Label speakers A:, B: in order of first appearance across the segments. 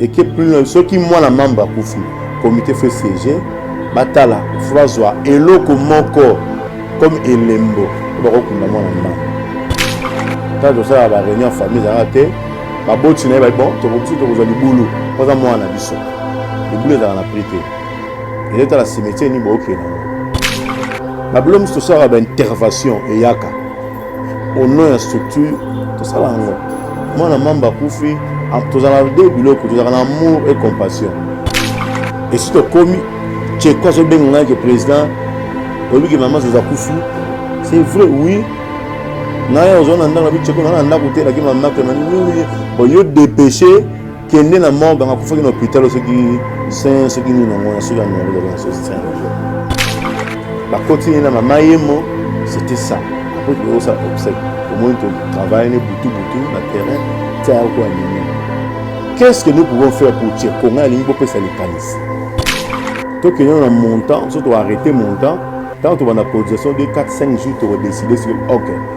A: eke plus loin soki mwana mamba akufi comité fo siège batala fo bazwa eloko moko comme elembo bakokunda mwana mamba ntango tosala bareunion famille ezalaka te baboti na ye babi bon tokoki tokozwa libulu mpo aza mwana na biso libulu ezalaka na prix te ezotala cimetière nini bookenda yango babilo mosusu tosalaka baintervention eyaka au nom ya structure tosala yango mwana mamba akufi ah, tozala nde biloko tozalaka na amour et compassion esi tokomi cheko azobenga ngai ke président oyebi ke mama zoza kufi c'est vrai oui naye ozwa na ndako nabi cheko naa na ndako te elaki mamake nani oui oui oyo dépêche kende na morgue anga kufaki na hôpital soki saint soki nini na ngona soki anga ngona na soki saint bakoti na mama yemo c'était ça après que ça obsèque au moins tu travailles ne butu butu na terrain tia ko anime qu'est-ce que nous pouvons faire pour tirer konga lingi ko pesa likanisi to que na montant surtout arrêter montant tant que on a cotisation de 4 5 jours tu décider sur OK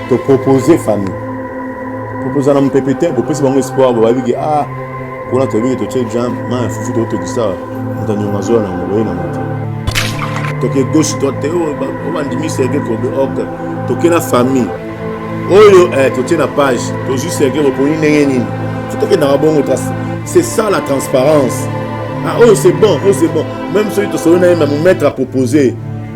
A: To proposer famille. Proposer na mpepe te, bopesi bango espoir, bababi ke ah, kuna toyebi ke totie jam, ma fufu totokisa, moto anyonga zola na yango, boye na moto. Toke gauche droite te, oyo oh, bandimi Serge Kobe, ok, toke na famille. Oyo eh, totie na page, tozwi Serge Reponi ndenge nini? Tokendaka bongo kasi. C'est ça la transparence. Ah, oh, c'est bon, oh, c'est bon. Même celui qui se met à proposer,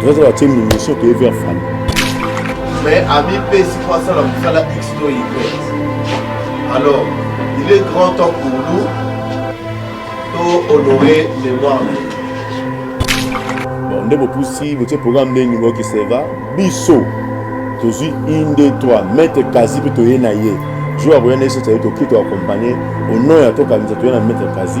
A: tozala tie minition toye vers fani mais
B: amipesi mpo asala mosala x to y alors il est grand temps pour nous to honorer
A: mémoire na bon nde bopusi botie programme ndenge boyoki seva biso tozwi une de trois maitre kasi mpe toye na ye jour akoya na ye soki tokoki toakompagne au nom ya tokanisa toye na maitre kasi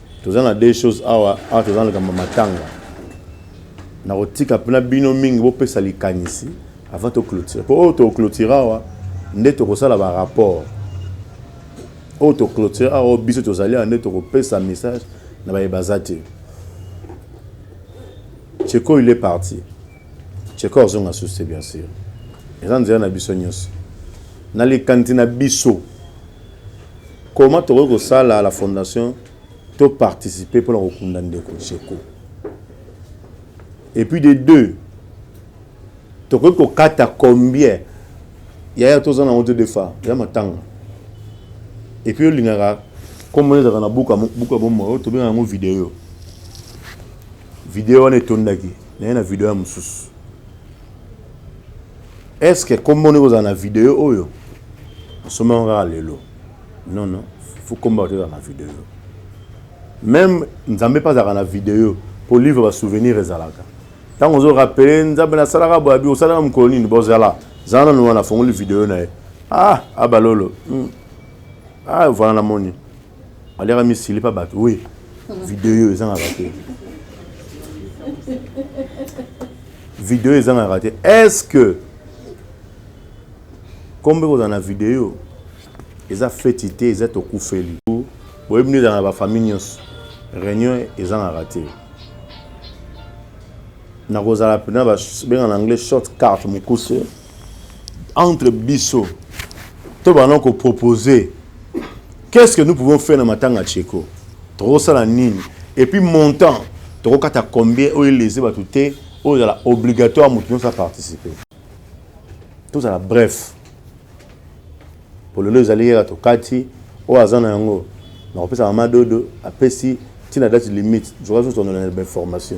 A: Toza na deux choses awa awa toza na likambo matanga nakotika mpena bino mingi bopesa likanisi avant toclotire mpo oyo toclotire awa nde tokosala barapport oyo toclotire awa oyo biso tozali awa nde tokopesa message na baye baza te cheko il est parti cheko azonga susu te bien sûr eza nzela na biso nyonso na likanisi na biso Comment tokoki kosala la fondation to participer pona kokunda ndeko Tsheko? Et puis de deux, tokoki kokata combien yaya toza na ote defa ya matanga et puis olingaka comme ezaka na buka buka bomo oyo tobenga yango video video wana etondaki naye na video ya mosusu Est ce que kombo ndeko za na video oyo osomba yango kaka lelo non non faut kombo bato ezala na video meme nzambe mpe azalaka na video mpo livre ba souvenir ezalaka ntango ozo rapele nzambe nasalaka boye abi osalaka mokolo nini bozala zala nanu wana afongoli video na ye ah abalolo hmm. ah voilà namoni Aliaka mi silipa bato we video ezangaka te video ezangaka te est ce que kombe kozala na video eza feti te eza tokufeli boyebi nde ezala na bafamille nyonso réunion ezangaka te nakozala mpena benga na anglais short carte mokuse Entre biso to bana ko proposer qu'est-ce que nous pouvons faire na matanga Tsheko? Toko sala nini? Et puis montant toko kata combien oyo eleze batu te oyo zala obligatoire mutu nyosa participer. Tout ça la bref. Pour le ezali yera to kati oyo azana yango na kopesa mama dodo apesi tina date limite. Je crois que vous en avez l'information.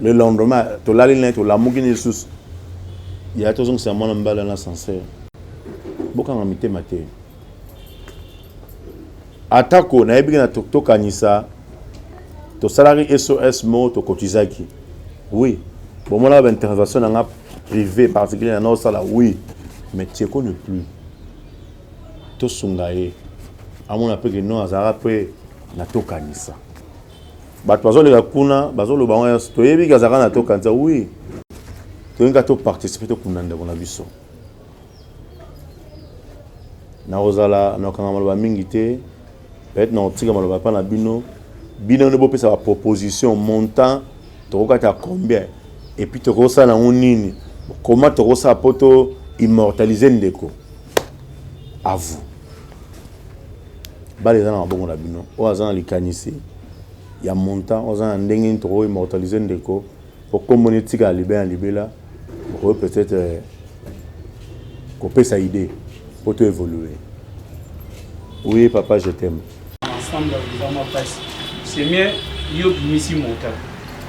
A: le lendemain tolali naye tolamuki na lisusu yaya tozongisa mwana mobali wana ascenseur bokanga mitema te atako nayebiki na tokanisa tosalaki sos moko tokotizaki oui bomonaka baintervention na nga privé particulier na naosala oui mais tieko ne plus tosunga ye amona mpe ke non azalaka mpe na tokanisa Bato bazoleka kuna bazoloba yango nyonso, toyebi ke azalaka na to kanisa oui, tolingi kaka to participe tokunda ndeko na biso. Nakozala nakokanga maloba mingi te, peut-être nakotika maloba epai na bino, bino nde bopesa ba proposition montant tokokata combien et puis tokosala yango nini, comment tokosala mpo to immortaliser ndeko à vous. bale eza na maboko na bino oyo aza na likanisi ya montant oyo aza na ndenge nini toko immortalise ndeko po kombo ne tika libela na libela okoyo peut-être euh, kopesa idée po to évoluer oui papa je t'aime ensemble eza
C: mwa pasi c'est mieux yo bimisi montant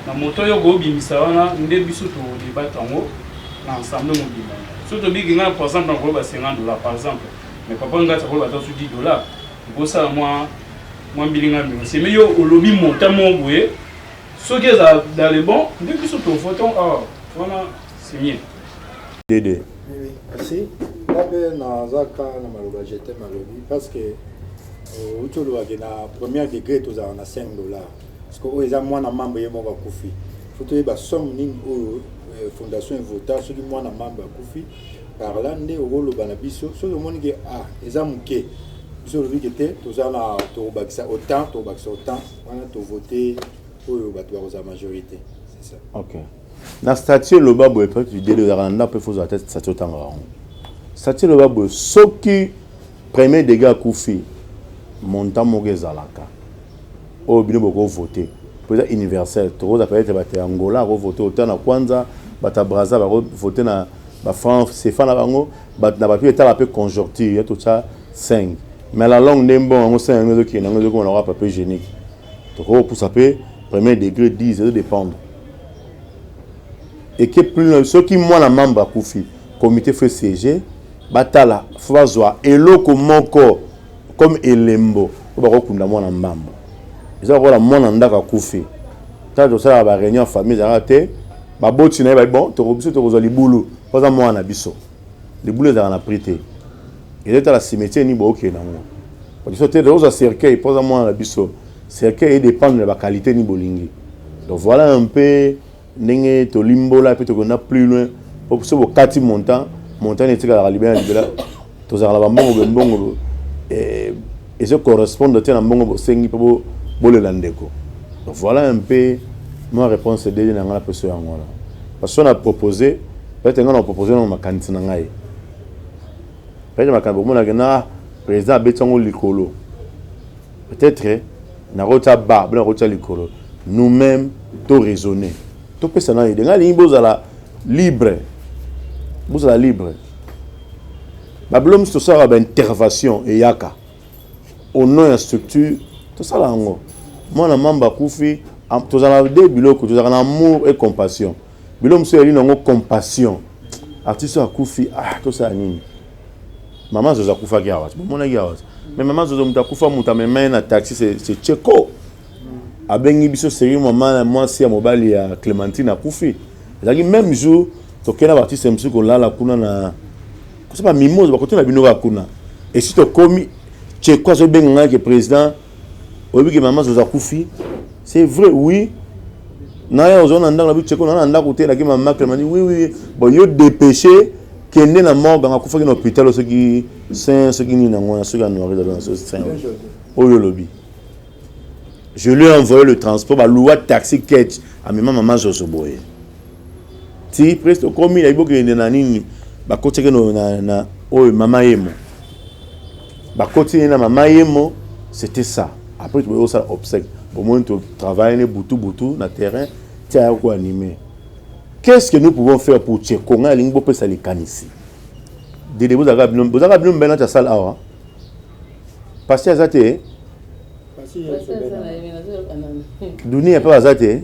C: na montant yo okobimisa wana nde biso todebate yango na ensemble mobimba soki tobiki ngai par exemple nakoloba 50 dollar par exemple Mais papa Ngatsa ko bata su 10 dollars. Ko sala mwa mwa mbilinga mbilinga. C'est mais yo olobi montant mo boye. Soki eza dans le bon, nde biso to votons ah wana c'est mieux. Dede.
A: Oui,
D: merci. Là ben na zaka na maloba je t'aime alobi parce que euh, uti olobaki na premier degré tozala na 5 dollars parce que oyo eza mwana mambo ye moko akufi fo toyeba somme nini oyo euh, fondation evota soki mwana mambo akufi par là nde okoloba na biso soki omoni ke ah eza moke biso olobi ke te toza na tokobakisa autant tokobakisa autant wana tovote oyo bato bakozala majorité c'est ça okay. na
A: statue eloba boye peut-être idele ozalaka na ndako mpe fo ozala te statue otangaka yango statue eloba boye soki premier dégât akufi montant moko ezalaka oyo bino boko vote po eza universel tokoza peut etre bato ya angola ako vote autant na kwanza bato ya braza bako vote na ba franc cefa na bango bato na bato etala pe conjoncture ya totia 5 mais la longue nde mbongo yango 5 yango ezokende yango ezokoma na wapa pe genique tokopusa pe premier degré 10 ezo dépendre eke plus soki mwana membre akufi comité fo esiege batala fo bazwa eloko moko Comme elembo oyo bako kunda mwana mbambu. Eza lokola mwana ndako akufi. Tango tosalaka ba reunion ya famille ezalaka te ba boti na ye bayebi bon toko biso tokozwa libulu po aza mwana na biso. Libulu ezalaka na prix te. Eza etala cimetier nini bokokende na yango. Po biso te tokozwa cercueil po aza mwana na biso. Cercueil e dependre na ba qualite nini bolingi. Donc voilà un peu ndenge tolimbola mpe tokenda plus loin mpo soki bokati montant montant nde etikalaka libela na libela tozalaka na bambongo bembongo eh, ezo correspondre te na mbongo bosengi mpo bolela ndeko voilà un peu ma réponse edeli na ngai na poso yango wana parce que na propose peut-être ngai na propose nango makanisi na ngai peut-être makambo omonake na président abeti yango likolo Peut-être nakotia ba bino nakotia likolo nous-mêmes to raisonner topesa na idée ngai lingi bozala libre bozala libre babilo mosusu tosalaka baintervention eyaka au nom ya structure tosala yango mwana mamba akufi tozala de biloko tozalaka na amour et compassion Bilo mosusu yali nango compassion. Artiste oyo akufi, ah tosala nini? Mama Zozo akufaki awa. Bomonaki awa. Mais Mama Zozo moto akufa moto amema ye na taxi c'est c'est Cheko. Abengi biso seri mama mwasi ya mobali ya Clementine akufi. Ezalaki même jour tokei na baartiste mosusu kolala kuna na kosaba mimoza bakotuna bino kaka kuna esi tokomi Cheko azobenga ngai ke président Oyebi ke mama zozo akufi? C'est vrai oui. Naya ozo na ndako na bicheko na na ndako te laki mama Clement dit oui oui. Bon yo dépêcher kende na morgue nga kufaki na hôpital soki saint soki nini na ngona soki anuari da na soki saint. Oyo lobi. Je lui ai envoyé le transport ba loua taxi catch à mama mama zozo boye. Ti presto komi na iboke na nini bakoteke na na oyo mama yemo. bakoti ye na mama yemo c'était ça après tokoki kosala obsèque bomoni totravaille ne butu butu na terrain ti aya koanime qu'est ce que nous pouvons faire pour tcheko ngai alingi bopesa likanisi dede bozalaka bino bozalaka bino mibale nati asala awa pasi aza te dunia mpe aza te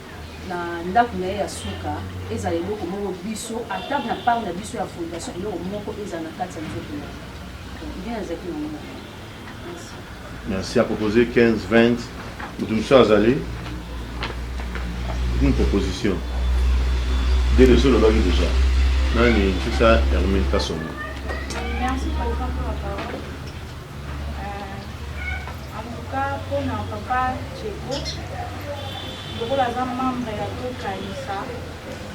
E: na ndaku naye ya suka ezala eloko moko biso ata na part na biso ya fondation eloko moko ezala na kati ya nzoto na ye nde nazalaki na yango
A: merci à proposer 15 20 moto mosusu azali une proposition de leso olobaki déjà nani fisa hermine kasongo
F: Euh, en tout cas, pour na papa Tcheko, lokola aza membre ya tokanisa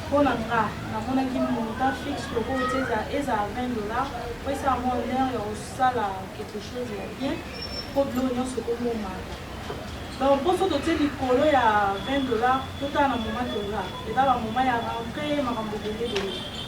F: mpo na nga namonaki montant fixe lokola oti ezala 20 dollar mpo esa yango honneur ya kosala quelque chose ya bien mpo biloko nyonso ekomomaka donc mpo so totie likolo ya 20 dollar totala na moma toza eza bamoma ya rentre makambo ebele ebele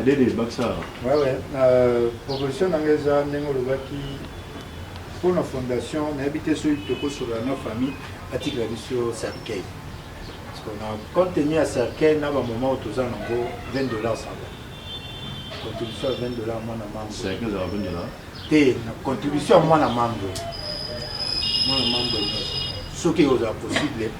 A: adede bakisa wewe na
D: proposition na ngai eza ndenge olobaki mpo na fondation nayebi te soki tokosolola na famille atikela biso cercueil na contenu ya cercueil na bamoment oyo toza nango 20 dollars saba contribution ya 20 dollars mwana mambo
A: te na contribution
D: ya mwana mambo mwana mambo nyonso soki ekozala possible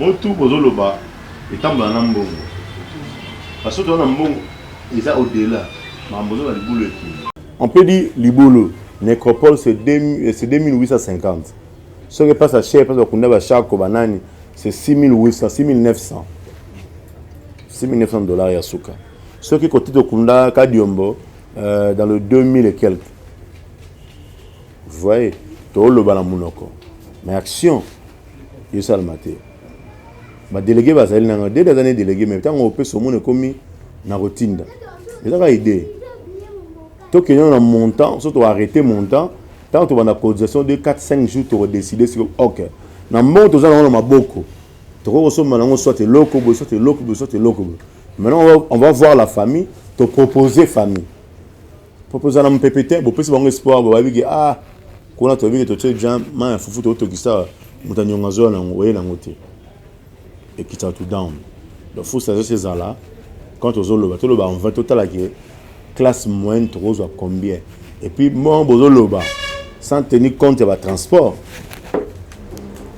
A: Mutu bozo loba etambola na mbongo ba soto wana mbongo eza au dela makambo ozo loba libulu ekende. On peut dire libulu necropole c'est 2850 soki epasa cher epasa bakunda ba shako ba nani c'est 6800 6900 6900 dollars ya suka soki kote tokunda kadiombo euh, dans le 2000 et quelques vous voyez toloba na munoko mais action esalama te badelege bazali na ngai dede aza ne delege me ntango opesa omona ekomi na kotinda eza kaka idee tokende na montant so toarrete montant ntango tobanda cotisation de 4 5 jours tokodeside siko ok na mbongo toza nango na maboko tokoki kosomba nango soit eloko boye soit eloko boye soit eloko boye maintenant on va voir la famille topropose famille Papa oza na mupepe te, bopesi bango espoir, bababi ke ah kuna toyebi ke totie ja mai ya fufu totokisa moto anyonga azoya nango oye nango te ekitaka to down donc faut sagesse ezala quand tozoloba toloba en vain totala ke classe moyenne tokozwa combien et puis bon bozoloba sans tenir compte ya batransport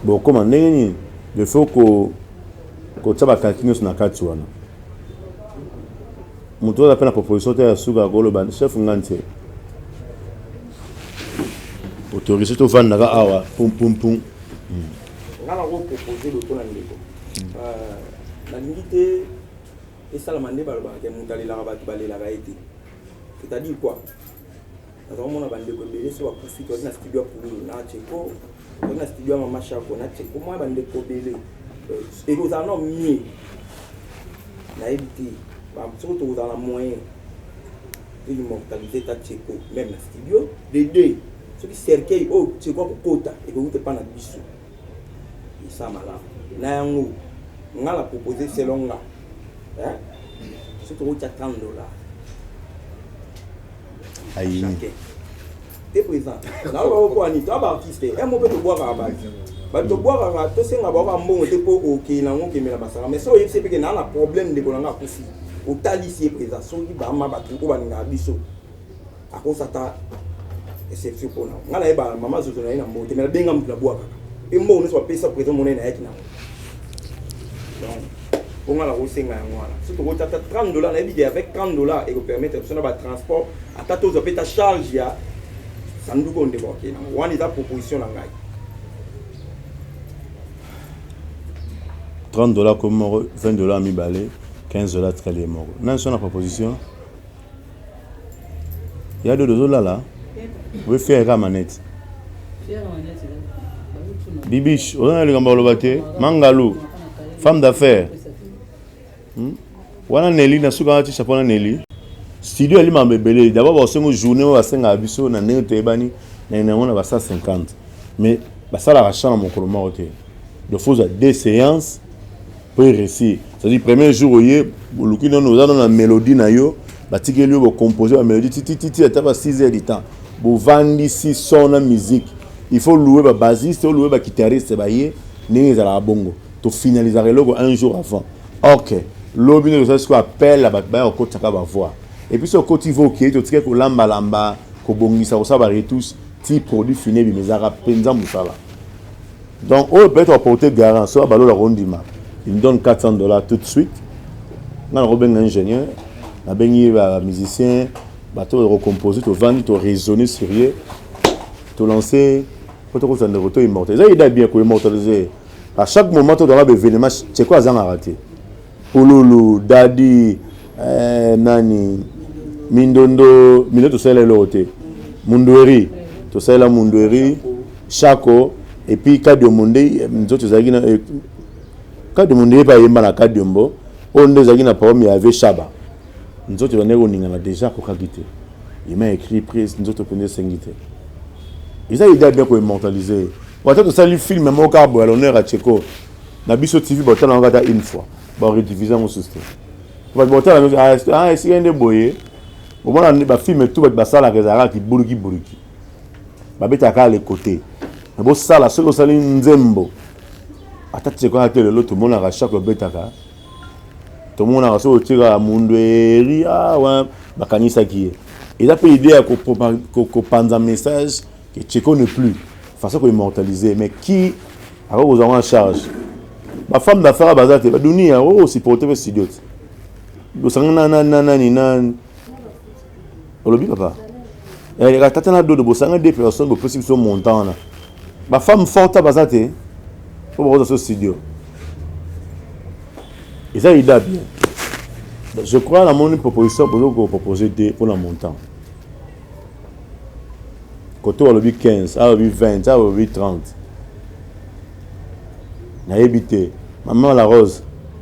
A: bokoma ndenge nini il faut ko kotia bakalki nyonso na kati wana Moto oyo aza mpe na proposition te ya suka akoloba chef nga nse autorise tovandaka awa pumpumpum hmm. nga
G: nakopropose lokola ndeko hmm. euh, nalingi te esalama nde balobaka te moto alelaka bato balelaka ye te c'est-à-dire quoi Naza komona ba ndeko ebele so bakufi toyaki na studio ya Pululu na Tcheko toyaki na studio ya Mama Shako na Tcheko mwa ba ndeko ebele euh, ekozala na mie nayebi te soko tokozala na moyen immortaliser ta Tcheko même na studio de deux soki cercueil oyo oh, Tcheko akokota ekowuta epa na biso esa malamu na yango nga na propose selon nga soki tokotya 30 dollars
A: ayini
G: te président nayoka oko ani to ba artiste e mo mpe tobwakaka baki bato tobwakaka tosenga bao bambongo te mpo okei nango okemela masanga mais so oyebisi ye mpeke naa na problème ndeko na ngai akufi otalisi ye président soki bama bato oyo balingaka biso akosa ata exception mpo na ngai nayeba mama zozo na ye na mbote mais nabenga moto nabwakaka mpe mbongo nyonso bapesa président monene ayaki nango mpo ngai nakosenga yango wana so tokoti ata 30 dollar nayebi ke avec 30 dollar ekopermettre biso na batransport ata tozwa mpe ta charge ya sanduku oyo ndeko akei nango wana eza proposition na ngai 30
A: dollar komi moko 20 dollar mibale 15 dollar tikali ye moko nani so na proposition Ya dodo ozolala oye fiere kaka manette bibiche oza na likambo aloba te mangalu femme d'affaire hmm? wana neli na suka wana tisha mpona neli studio yali mambo ebele dabord basengo journée oyo basengaka biso na ndenge toyebani na yango na ba 150 mais basalaka champ na mokolo moko te dofuza deux séances Prix resi, c'est-à-dire premier jour oye oluki nono oza nono na melodie na yo batikeli yo bocomposer ba melodie titititi ata ba 6 heures du temps bovandisi son na musique il faut louer ba basiste oloue ba guitariste baye ndenge ezalaka bongo tofinalizaka eloko un jour avant ok lobi nde tosali sikoyo appel ya bato baya kokotisaka bavoix epuis so okoti vo okei totike kolambalamba kobongisa kosala baretouche ti produit fini ebima ezalaka mpenza mosala Donc oyo peut-être à porter garant, soit balola kondima, il me donne 400 dollars tout de suite. Nga na kobenga ingénieur, na bengi ba musicien, ba to ko composer, to vandi, to raisonner sur ye, to lancer, ko to ko sande ko to immortel. Ça il est bien ko immortaliser. À chaque moment to dans la événement, c'est quoi azanga raté? Pululu, Daddy, eh, nani, Mindondo, Mindondo to sala l'autre. Mundueri, to sala Mundueri. Shako et puis Kadiombo nde nzoto ezalaki na eh, Kadiombo nde epa yemba na Kadiombo oyo nde ezalaki na problème ya Ave Shaba nzoto ebandaki koningana déjà akokaki te il m'a écrit prise nzoto mpenza esengi te eza idée ya bien koimmortalise ye wata tosali filme moko kaka boya l'honneur ya cheko na biso tv botala yango ata une fois baredivise yango susu te bato botala yango esika nde boye omona bafilme tu bato basalaka ezalaka kibuluki buluki babetaka kaka le cote me bosala soki osali nzembo ata tiekoya te lelo tomonaka shako ebetaka tomonaka soki otiekaka mundu eri awa ah, bakanisaki ye eza mpe idée ya kopanza message que tcheko ne plus façon koimmortaliser mais qui akoki kozwa yango en charge bafemme d'affaire baza te baduni yango osupporte mpe studio te osangana na nani na olobi papa eh, tata na dodo bosanga de personne bopesi biso montant wana bafemme forte baza te mpo bakoza so studio eza ida bien je crois namoni proposition bozo kopropose te mpona montant koto alobi 15 alobi 20 alobi 30 nayebi te mama la rose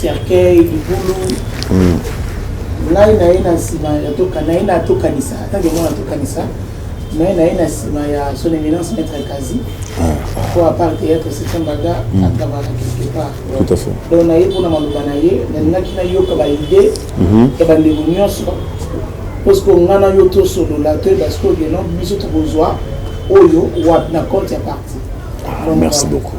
H: cercueil libulu ngai na ye na nsima na ye na tokanisa atake yango na tokanisa na ye na ye na nsima ya son éminence maître kazi po ah. apart théâtre setembaga hmm. atabaka quelque part donc na
A: ye mpona maloba
H: na ye nalingaki nayoka baide mhm. ya bandeko nyonso parceke ngai na yo tosolola to parceke ogeno biso tokozwa oyo wapi na compte ya parti ah, merci
A: beaucoup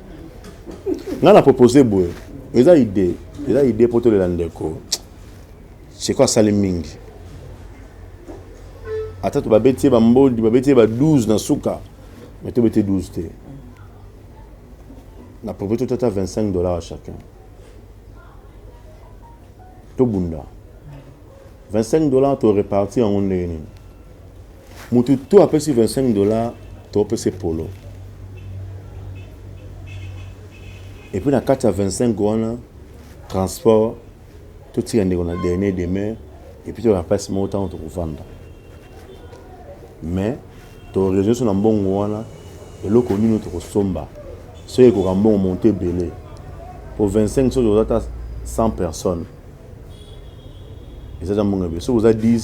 A: nga na propose boye eza idée eza idée mpo tolela ndeko seko asali mingi ata to babeti ye bambodi babeti ye ba 12 na suka mais tobeti 12 te na propose tota ata 25 dollars chacun tobunda 25 dollars to repartir yango ndenge nini mutu to apesi 25 dollars topesa polo epuis na kati ya 25 wana transport totika ndeko na dernier demeure epuis toyaka place moko ntango tokovanda mais toreseau so na mbongo wana eloko nini tokosomba soki ekoka mbongo monto ebele po 25 soki oza ata 100 personnes eza za mbongo ebele soki oza 10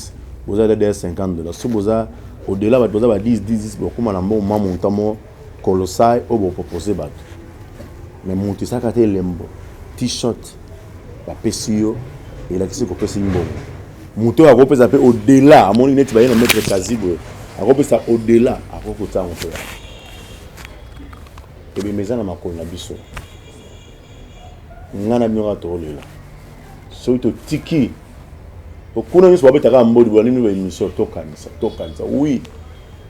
A: boza dada ya 50 dollars soki boza odela bato baza ba 10 10 bakóma na mbongo mwa monta mo kolosai oyo bopropose bato me moto esaka te elembo t-shirt bapesi yo elakisi kopesi mbongo moto oyo akopesa mpe odela amoni neti baye na maître kazi boye akopesa odela akoki kotango mpe ebemeza na makolo na biso nga na bino kaka tokolela soki totiki kuna nyonso babetaka ya mbodi bolandimi ba émission tokanisa tokanisa oui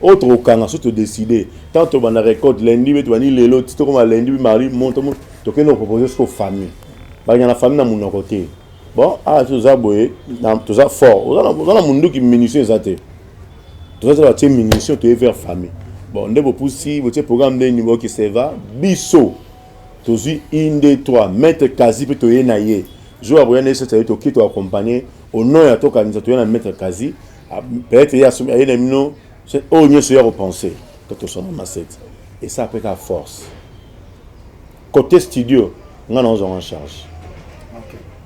A: oyo tokokanga so todeside ntango tobanda récolte lundi be tobandi lelo ti tokoma lundi mardi moto tokende kopropose soko famille bakenda na famille na monoko te bon awa ah, toza boye toza fort oza na monduki munition eza te toza te batie munition toye vers famille bon nde bopusi botie programme ndeni boke seva biso Tozui une deux trois maitre kazi pe toye na ye jour akoya na ye sasa ye toki to accompagner au nom ya tokanisa toye na maitre kazi ah, peut-être ye asumi aye na mino oyo nyonso ye akopense to tosona masete esa apeka force côté studio nga naozwa en charge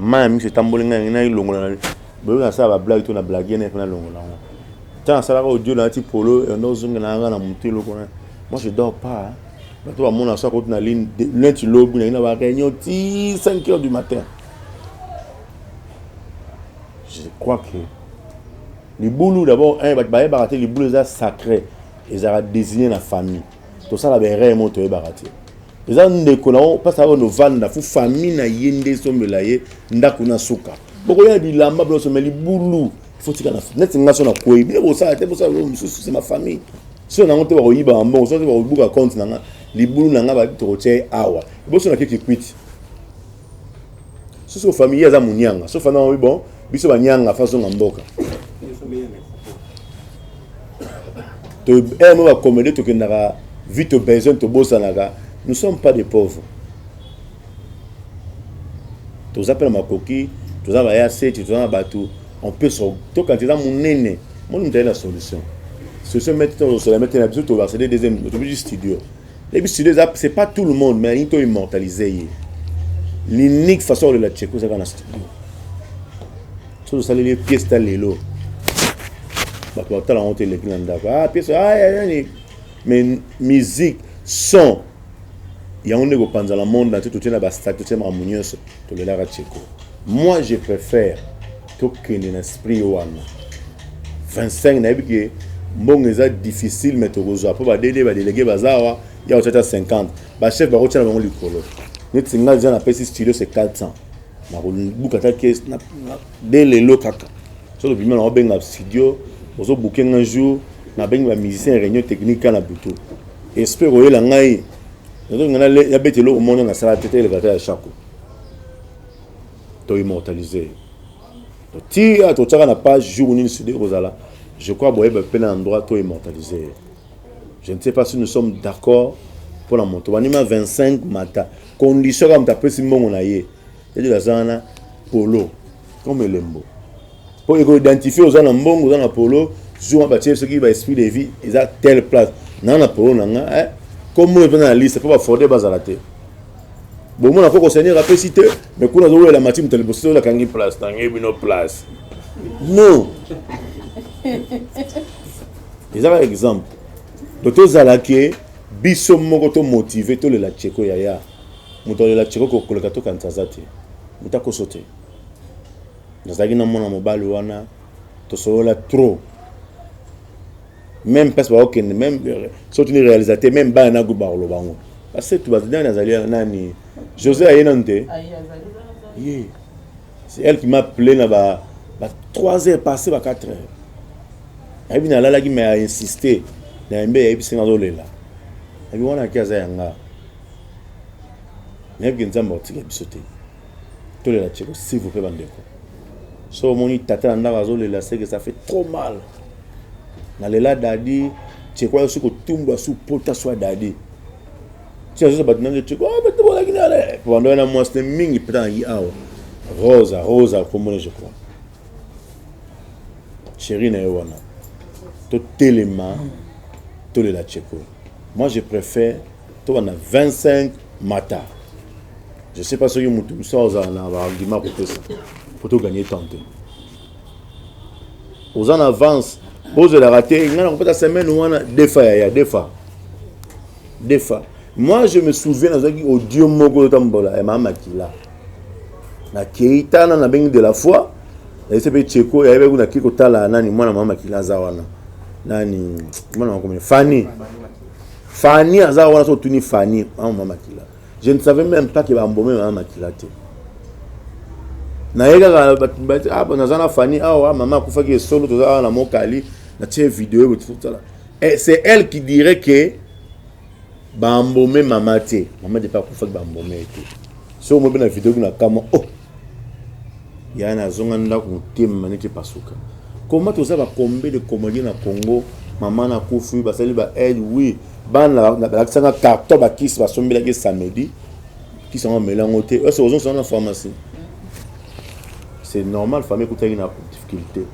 A: Mayi ya miso etamboli ngai ngai nayilongola na boyoki nasala ba blague to na blague na epe nalongola yango ntango nasalaka audio nalati polo yanda ozongela nanga na motu eloko na moi je dors pas bato bamona so akoti na ligne lenti lobi nayi na ba réunion ti 5 heures du matin je crois que libulu d'abord bato bayebaka te libulu eza sacré ezalaka désigné na famille tosala ba erreur mo toyebaka te eza ndeko na yo mpasi ayo novanda fo famille na ye nde esombela ye ndako na suka bokoya bilamba bilonso me libulu fotika na neti nga so na kwei bino bosala te bosala bino mosusu se ma famille so nango te bakoyiba ya mbongo so te bakobuka compte na nga libulu na nga babi tokotya ye awa eboso na keki kwiti soso familie aza monianga sofa na oyo bon biso banianga fa zonga mboka to heure mo bakomede tokendaka vie to besoin tobosanaka nous sommes pas des pauvres toza mpe na makoki toza baya seti toza na bato on peut so tokanisa eza monene moni moto aye na solution solution mete tosola mete na biso tobarsede deuxième tobisu studio Et puis studio eza c'est pas tout le monde mais into immortaliser ye. L'unique façon de la checker ça dans la studio. Tout ça les pièces ta lelo. Bah toi t'as la honte les clients d'accord. Ah pièce ah mais musique son yango nde kopanzala monde na te totyela bastatut tyela makambo nyonso tolelaka cheko moi je préfère tokende na esprit wana 25 nayebi ke mbongo eza difficile mais tokozwa mpo badede badelege baza awa ya kotya ata 50 bachef bakotya na bango likolo neti ngai eza napesi studio se 400 nakobuka ata kese de lelo kaka so tobima na obenga studio ozobuke ngai jour nabengi bamusicien réunion technique ka na butu esprit koyela ngai nazolinga nabeta eloko mona nasala te teleka ata ya shako To immortaliser. To tia to tchaka na page jour nini studio kozala. Je crois boye ba pena endroit to immortaliser. Je ne sais pas si nous sommes d'accord pour la moto. Wanima 25 mata. Condition comme ta pesi mbongo na ye. Et de la zana polo comme lembo. Pour identifier aux na mbongo oza na polo zuma batie soki ba esprit de vie eza telle place na na polo na nga eh comme oyo pena na liste po ba forde bazala te bomona koko seigneur apesi te mais kuna azowelela mati moto liboso oyo akangi place tangi bino place non eza kaka exemple donc tozala ke biso moko tomotive tolela cheko yaya moto alela cheko kokoleka tokanisa aza te moto akoso te Nazalaki na mwana mobali wana tosolola trop meme place bakokende meme soki tuni réalisateur meme bana na groupe bakoloba yango basetu bazinani azali nani josé aye nanu te ye c'est elle qui m'a appelé na ba, ba 3 heures passé ba 4 heures ayebi nalalaki mais a insiste na yembe ayebisi nga azolela ayebi wana ake aza ya nga nayebi ke nzambe akotika biso te tolela tsheko s'il vous plaît bandeko so omoni tata na ndako azolela seke ça fait trop mal nalela dadi tsheko ayosi kotumbwa su pota swa dadi ti azosa bato nange tsheko ah, bato bolaki nale bando wana mwasi ne mingi mpenza naki awa rosa rosa akomona je crois chéri na ye wana totelema tolela tsheko moi je préfère To banda 25 mata. Je sais pas soki mutu musa ozala na ba argument kopesa. Faut to gagner temps te. Aux en avance, bozolaka te ngai nakopesa semaine wana defa yaya defa defa moi je me souviens nazwaki audio moko otambola ya mama makila nakei tana nabengi de la foi nayese mpe cheko yayebi kuna akei kotala nani mwana mama makila aza wana nani mwana makomi fani Fanny aza wana so tuni Fanny ah maman Makila. Je ne savais même pas que ba mbomé maman Makila te. Na yega ka ba ba ah bon azana Fanny ah wa maman kufa ki solo to za na mokali na tie vidéo bo tout ça. Et c'est elle qui dirait que ba mbomé maman te. Maman de pas kufa ki ba mbomé te. So mo bena vidéo na kama oh ya na zonga ndako motema manike pasuka koma toza ba combien de comédien na Congo maman na kufi basali ba aide oui bana balakisanga carton ba kisi basombelaki samedi kisi yango melango te ose ozonsa na pharmacie c'est normal famille ekutaki na difficulté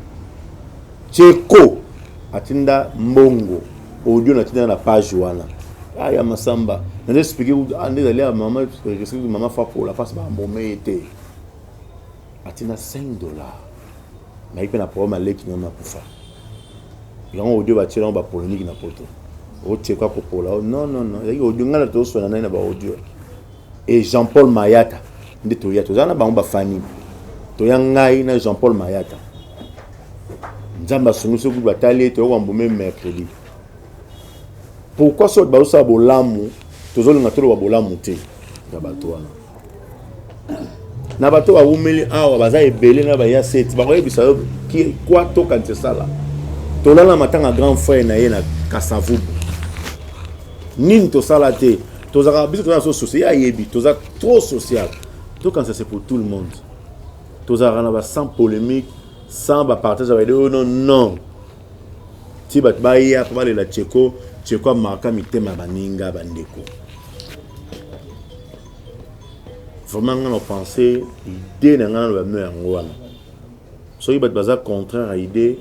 A: Tsheko atinda mbongo audio na tinda na page wana ah ya masamba na nde explique ah nde ezali ya mama explique mama fapola face ba mbome ye te atinda 5 dollars na ye mpe na problème aleki na makufa yango audio batie yango ba polonique na poto otie kwa kopola oh, non non non ezalaki audio ngai na toswana nai na ba audio et jean paul mayata nde toya toza na bango bafani toya ngai na jean paul mayata nzambe asungisi kutu batali ete okoka mbuma mercredi pourquoi soki bato bazosala bolamu tozolinga toloba bolamu te na bato wana na bato bawumeli awa baza ebele na baya seti bakoyebisa yo kwa tokanisa esala tolala matanga grand frère na ye na kasavubu nini tosala te tozalaka biso toza so social ye ayebi toza trop social tokanisa c'est pour tout le monde tozalaka na ba sans polemique sans ba partage ya baide oyo non non ti bato baya mpo balela cheko cheko amarka mitema ya baninga bandeko vraiment ngai na pense idée na ngai na bamio yango wana soki bato baza contraire ya idée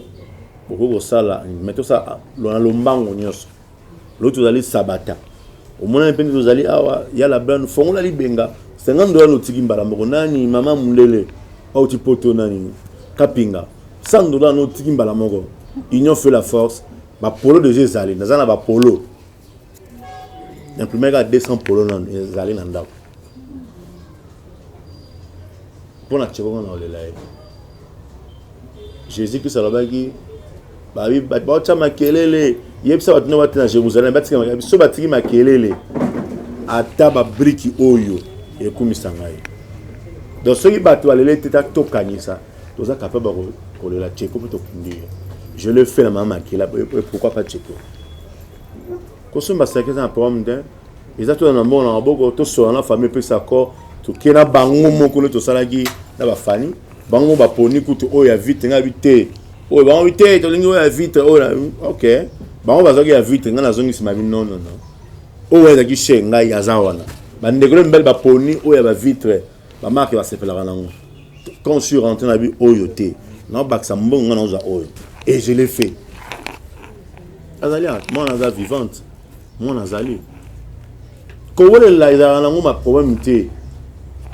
A: bokoki kosala mais tosala na lombango nyonso Lelo tozali sabata. Omonani mpe nde tozali awa ya la blane fongola libenga 50 dola notiki mbala moko nani mama mundele auti poto nani kapinga 100 dola notiki mbala moko union fait la force bapolo deja ezali naza na bapolo imprimaka 200 polo nano ezali na ndako mpo na tshekoko na olela ye jésus kristo alobaki baotya makelele yebisa bato nde na jérusalem batika biso batiki makelele ata babriki oyo ekumisa ngai donc soki bato balele te ta tokanisa toza capable kolela tsheko mpo tokundi ye je le fais na mama makila pourquoi pas tsheko kosomba saki eza na problème te eza tona na mbongo na maboko tosola na famille epesa accord toke na bango moko nde tosalaki na bafani bango baponi kutu oyo ya vite ngai bi te oyo bango bi te tolingi oyo ya vite oyo na ok bango bazwaki ya vite ngai nazongi nsima bi non non non oyo ezalaki chez ngai aza wana bandeko na mibali baponi oyo ya bavitre Ba marque ba sepelaka nango. Quand je suis rentré na bi oyo te. Na bakisa mbongo nga na oza oyo. Et je l'ai fait. Azali mwana aza vivante. Mwana azali. Kowelela ezalaka nango ma problème te.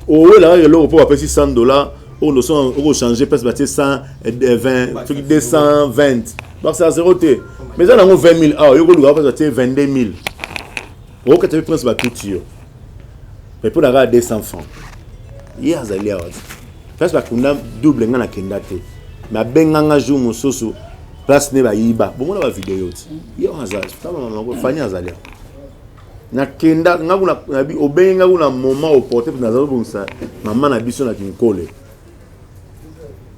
A: Owelaka eloko mpo bapesi 100 dollars oyo noson okochange place batie 120 soki 220 bakisa zero te mais eza nango 20 000 awa yo koluka place batie 22 000 Au que tu prince ba tout yo. Mais pour la 200 francs. Hier azali awa. Prince ba kunda double nga na kenda te. Mais benga nga jour mususu place ne ba yiba. Bon mona ba vidéo ti. Hier azali. Tama mama ko fanya azali awa. Na kenda nga kuna na bi obenga kuna moment au porter na zalo bonsa maman na biso na kinkole.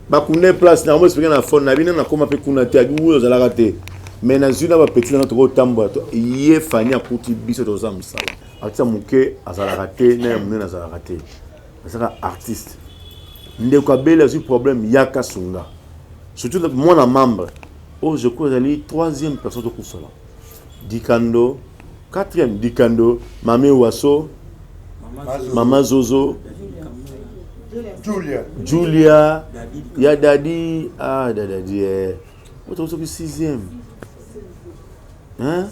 A: bakunda place na moesplike na fone na bino nakoma mpe kuna te abi oyo ozalaka te me nazwi na bapeti nanga tokotambola ye fani akuti biso toza mosala artiste moke azalaka te na ya monene azalaka te azalaka artiste ndeko abele azwi problème yaka sunga surtout mwana membre oyo oh, je crois ezali troisième personne tokufela Dikando quatrième dikando mame waso mama zozo julia julia ya dadi ah dadadi eh. oto soki sixième hein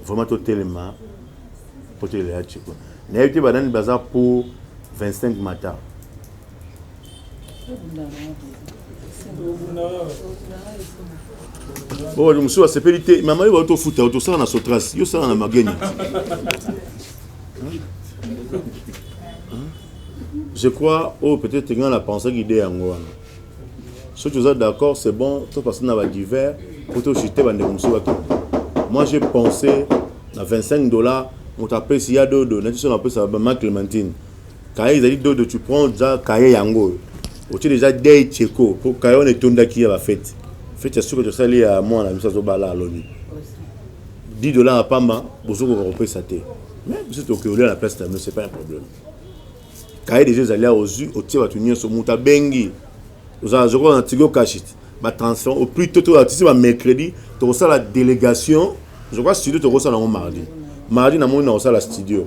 A: vraiment totelema mpo tolela chiko nayebi te banani baza mpo 25 mata Bon, bato mosusu basepeli te mama yo bauti ofuta oto osala na sotras yo osala na mageni je crois oyo oh, peut-être ngai na pensaki ide yango wana soki oza d'accord c'est bon topasa na badiver po toshite bandeko mosusu bakende moi j'ai pensé na 25 dollars moto apesi ya dodo nati so napesa bama clémentine Kaye ezali dodo tu prends ja kaye yango oyo. Otie deja dei cheko po kaye wana etondaki ya ba fete. Fete ya suka tosali ya mwana biso azobala alobi. 10 dollars ya pamba bozokoka kopesa te. Mais biso tokeolia na place na bino c'est pas un problème. Kaye deja ezali awa ozwi otie bato nyonso moto abengi ozala zokola na tigo kashit batransfert au plus tôt tolatisi ba mercredi tokosala délégation zokola studio tokosala yango mardi mardi namoni nakosala studio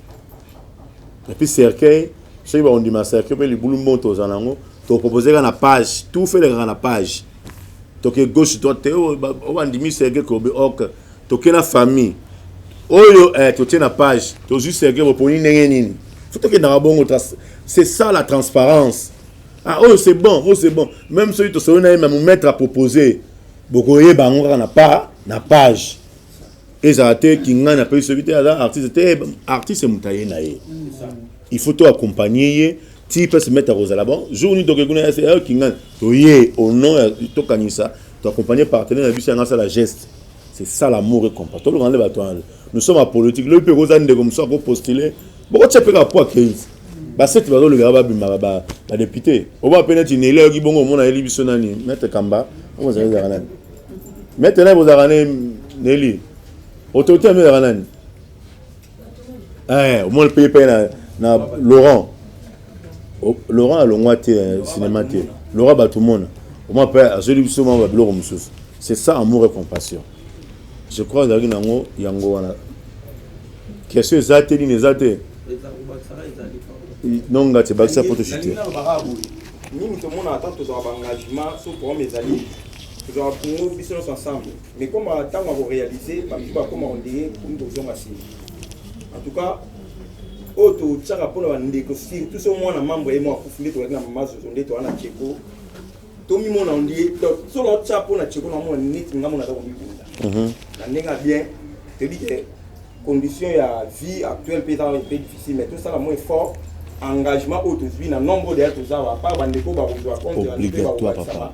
A: Et puis cercueil, soki bakondima cercueil mpe libulu moto oza nango tokopropose na page tout fait elekaka na page toke gauche droite te oyo bandimi cercueil kobe ok toke na famille oyo eh, totie na page tozwi cercueil boponi ndenge nini fo tokendaka bongo c'est ça la transparence ah oyo c'est bon oyo c'est bon même soki tosolo na ye me mometre apropose bokoyeba yango kaka na pa na page ezala te kingani apesi soki te aza artiste te artiste moto aye na ye il faut to accompagne ye ti mpe se mettre akozala bon jour nini toke kuna yase eh, kingani toye au nom ya tokanisa to accompagne partenaire na biso yanga asala geste c'est ça l'amour et compas tolongana nde bato wana nous sommes apolitique lobi mpe koza ndeko mosusu akopostule bokotya mpe kapwa keisi basete bazolobela babimaka badepute oba mpe neti neli ayoki bongo omona yeli biso nani maitre kamba okozala ezalaka nani Mais tena bozalaka ne Nelly. Autorité ya mezalaka nani? Eh, omoni mpe mpe na na Laurent. O- Laurent alongwa te eh, cinéma te. Laurent bato mona. Omoni mpe azweli biso mwa babiloko mosusu. C'est ça amour et compassion. Je crois ezalaki nango yango wana. Question eza te nini eza te. Non ngati bakisa photo shooter. nini
G: tomona ata tozwa baengagement so programme ezali Tozwa ba poumons biso nyonso ensemble. Mais comme ba tango ya ko realiser ba misusu ba koma ko ndenge comme ko zonga sima. En tout cas oyo to tsaka pona ba ndeko surtout so mwana membre ye mwa kufu nde tozalaki na mama zozo nde toza na Tcheko. To mi mona ndie donc so na tsa pona Tcheko na mona net nga mona za ko mi bunda. Mhm. Na ndenge bien te dit que condition ya vie actuelle pe za pe difficile mais tout ça la moins fort engagement oyo tozwi na nombre deya toza wa par bandeko bakozwa compte ya mpe bakobatisa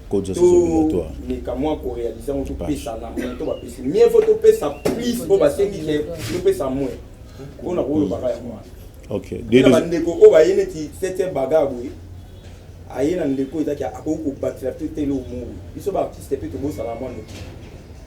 A: codes sont obligatoires
G: meka mwa ko réaliser ngo topesa na mwa to bapesi mieux faut topesa plus oyo basengi ke topesa mwa mpo na koyobaka yango wana okay na
A: bandeko oyo
G: baye neti septième baga boye aye na ndeko ezaki akoki kobatela te te eloko moko biso baartiste mpe tobosana mwa noki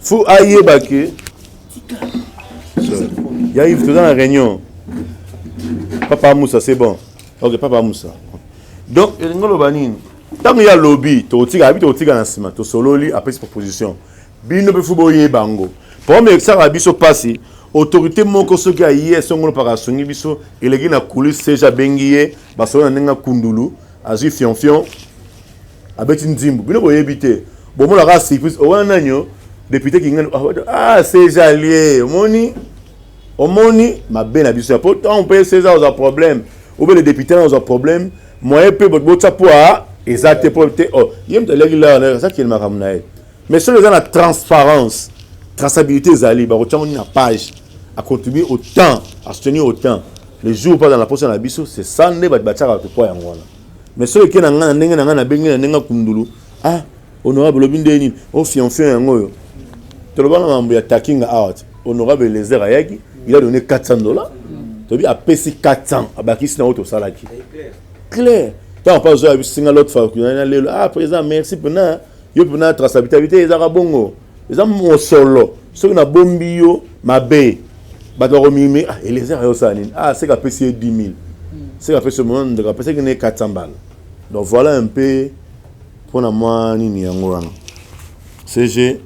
A: faut ayeba ke ya ive toza na réunion papa amusa c'est bon ok papa amusa donc elingi oloba nini ntango ye alobi tokotika abi tokotika na nsima tosololi apesi proposition bino mpe fo boyeba yango problème ekisaka biso mpasi autorité moko soki aye esongolo mpaka asungi biso eleki na kulise seja abengi ye basolo na ndenge akundulu azwi fionfion abeti nzimbu bino boyebi te bomona kaka surprise owana oh, nanyo oh, depute kingani ah sejalie ah, omoni omoni mabe na biso ya po ntango mpe seza ozwa problème obele depute na ozwa problème moyen mpe botya mpo a eza te mpo te oh, ye moto aliaki lawa azakeli makambo na ye mais soki eza na transparence traçabilité ezali bakotya ngo nini na page acontribue au temps asoutenir au temps le jour mpo aza na posa na biso c'est ça nde bato batyaka bato mpo yango wana mais soki eke na ngai na ndenge na ngai nabengi na ndenge akundulu ah honorable olobi nde nini o oh, fianfion yango oyo toloba na mambo ya takinga awa te honorable elezer ayaki il a donné 400 dollars tobi apesi 400 abakisi na oyo tosalaki clair ntango mpa ozoya bisinga lot fakuna na lelo ah président merci mpena yo mpena traçabilité ezaka bongo eza mosolo soki nabombi yo mabe bato bakomimi ah, eliezer ayosala nini ah, seke apesi ye 10 000 seke apesi yo mona ndeko apesaki ne 400 mbala donc voilà un peu mpo na mwa nini yango wana cg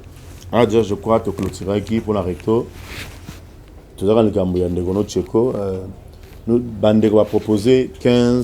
A: ah déjà je crois toclotiraki mpo na recto tozalaka likambo ya ndeko no cheko euh, bandeko bapropose 15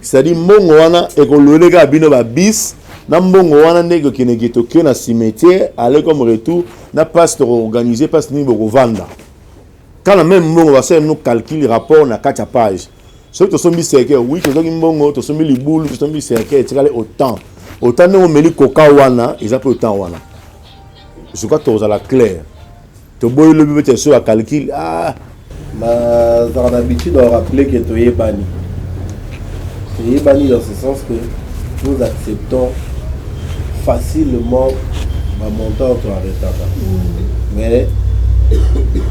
A: cetadi mbongo wana ekolwele kaka bino babis na mbongo wana nde ekokendeke tokio na cimetière ale comme retour na place tokoorganize place nini bokovanda kana meme mbongo basala bino calcul rapport na kati ya page soki tosombi cercueil wi tozwaki mbongo tosombi libulu tosombi cercueil etikali autant autant ndenge omeli koka wana eza mpe autant wana je crois tokozala claire Toboyi lobi beti ya soba calcul. Ah! Nazalaka
B: na habitude ya rappeler que toyebani. Toyebani dans ce sens que nous acceptons facilement ma montant to arrêtaka. Mm. Mais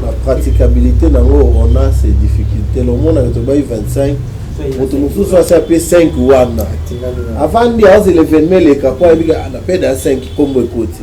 B: la praticabilité nango on a ces difficultés. Le monde avec tobayi 25 moto mosusu asi ape 5 wana avandi aozeleveme eleka mpo ayebika na pede ya 5 nkombo ekoti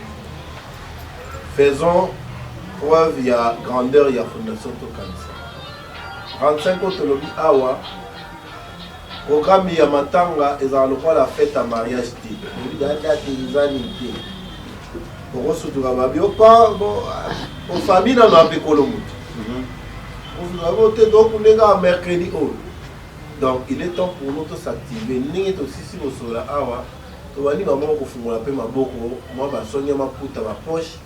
B: Faisons preuve ya grandeur ya fondation tokanisa 35 oyo tolobi awa programme ya matanga ezala lokola fete ya mariage te oyebi date eza nini te okosutuka babi opango ofabi nano apekolo moto osutuka bo te tokundeka kaka mercredi oyo donc il est temps pour nous tosactive ndenge tosisi kosola awa Tobandi bango mwa kofungola mpe maboko, mwa ba songe ya maputa, ba poches,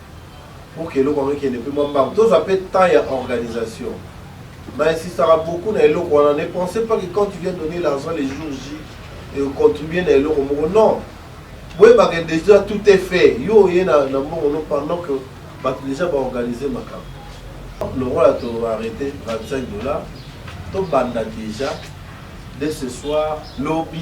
B: pour que eloko yango ekende mpe mwa mbangu. Tozwa mpe temps ya organisation. Na insistaka beaucoup na eloko wana, ne pensez pas que quand tu viens donner l'argent le jour J, et o contribuer na eloko moko, non! Boyeba que dejà tout est fait, yo oye na mbongo no pendant que batu dejà ba organiser makambo. Lokola to arreter 25 dollars, tobanda dejà dès ce soir, lobi,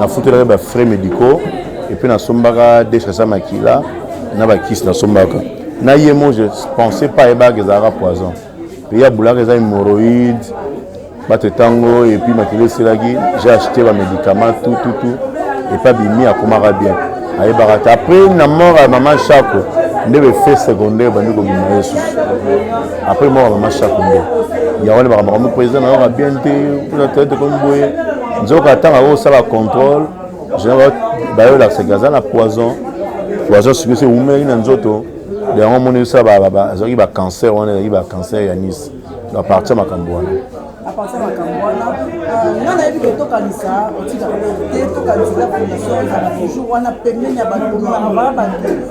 A: nafutelaka ba frais médicaux epuis nasombaka dechase ya makila na bakisi nasombaka na ye mo je pensais pas ayebaka ezalaka poison mpe ya bulaka eza hémorroïde bato ntango epuis makila esilaki j'ai acheté bamédicament tout tout tout epa bimi akomaka bien ayebaka te après na mort ya mama shako nde befet secondaire bandi kobima ye susu après mort ya mama shako nde yango nde makambo makambo président nayoka bien te mpona toyete komi boye nzoka ntango akosala contrôle général bayolakisa ke aza na poison poison soki esi ewumeli na nzoto de yango omoni esala azalaki bacancer wana ezalaki bacancer ya nice a partir makambo wana apartir makambo wana euh, nga
I: nayebi ke tokanisa otikaka te tokanisa eza fondation ezala toujours wana pembeni ya bato komona baa bato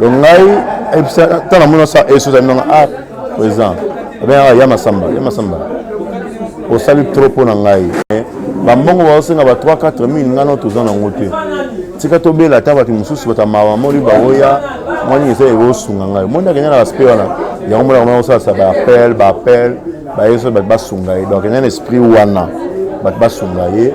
A: donc ngai ntango namoni osa eso ozali nanga a président abengaka ya masamba ya masamba osali trop mpo na ngai bambongo baosenga ba 3 4 mille ngai no toza nango te tika tobela ata bato mosusu bato ya mawa moli baoya mwa nini eza ekosunga ngai omoni akende na baspect wana yango mona komona kosalisa baappel baappel bayeso bato basunga ye donc enda na esprit wana bato basunga ye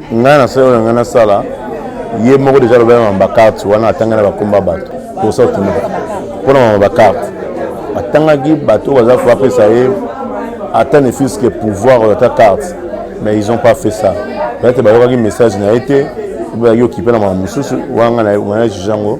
A: ngai na solo na ngai nasala ye moko deja alobela na bacarte wana atanga na bakomba bato posa okima mpo na mama bacarte atangaki bato oyo baza fo apesa ye ata ne fils que pouvoir oyo ata carte mais ils ont pas fait ça peut-être bayokaki message na ye te obe bayoki mpe na makambo mosusu wana ngai na juge yango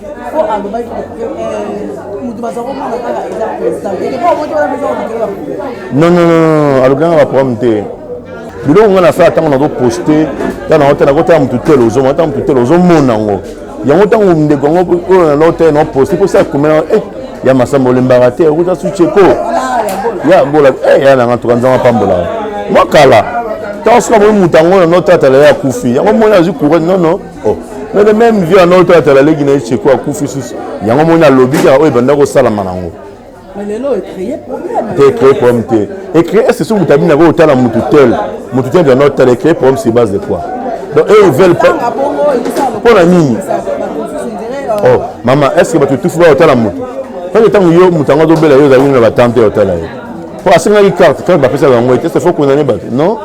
I: po alobaki eh, moto baza komona kaka eza non non non alobi
A: nanga baproblème te biloko ngai nasala ntango nazo poste ta nango te nakotala motu te lozoma ata motu te lozomona yango yango ntango ndeko yango oyo nalo te no poste mposa akomela eh, ya masamba olembaka te okuta suceko ya bola eh, ya nanga tuka nzambe apambola mwa kala ntango soki amoni moto yango na notata lelo akufi yango moni azwi courage nono Oh, mais le même vieux ana oyo toyatala leki na ye cheko akufi susu yango omoni alobi kaka oyo ebanda kosalama nango
I: te créer problème te
A: ecréer est ce soki moto abimi yango otala motu tel motu tel banda otala ecréer problème sur base de quoi donc eux ils veulent pas mpo na nini oh mama est ce que bato tufi baotala motu pake ntango yo moto yango azobela yo ozali na batante otala ye po asengaki carte carte bapesaka yango ete sefo condamne bato non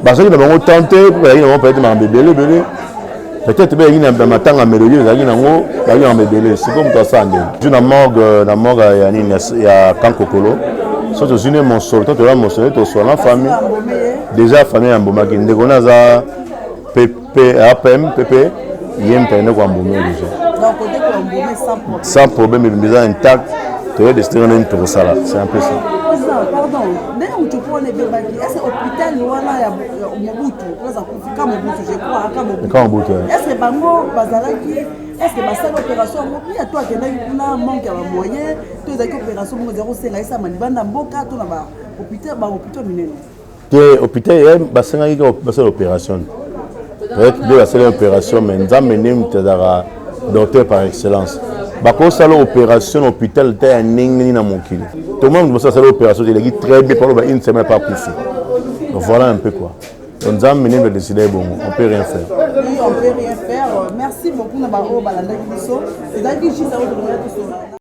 A: bazalaki na bango temps te po bazalaki na bango peut-être makambo ebele ebele peut-être mpe ezalaki na matanga melodie ezalaki nango bazalaki na makambo ebele sikoyo moto asala ndenge ju na morgue na morgue ya nini ya kankokolo so tozwi nde mosolo to toya mosolo tosolo na famille déjà famille ya mbomaki ndeko na aza mpe Pe apem pepe ye mpene kwa mbume deja. Donc côté kwa mbume sans problème. Sans problème biza intact. Toye destination nini tokosala. C'est un peu ça. Pardon,
I: ndenge mutu mpo wana ebebaki ese hôpital wana ya mobutu oza kufi ka mobutu je crois ka mobutu. Ka mobutu. Ese bango bazalaki est ce que basali opération yango pia to akendaki kuna manque ya bamoyen to ezalaki opération moko ezali kosenga esalama libanda mboka to na bahôpital minene te hôpital
A: ya basengaki kaka basala opération peut-être nde basala opération mais nzambe nde moto azalaka docteur par excellence bakosala opération na hôpital ta ya ndenge nini na mokili tomona moto mosusu asala opération te eleki très bien paloba une semaine pa akufi voilà un peu quoi donc nzambe nde moto adesida ye bongo on peut rien faire merci beaucoup na baoyo
I: balandaki biso ezalaki jisa oyo tolingaki tosona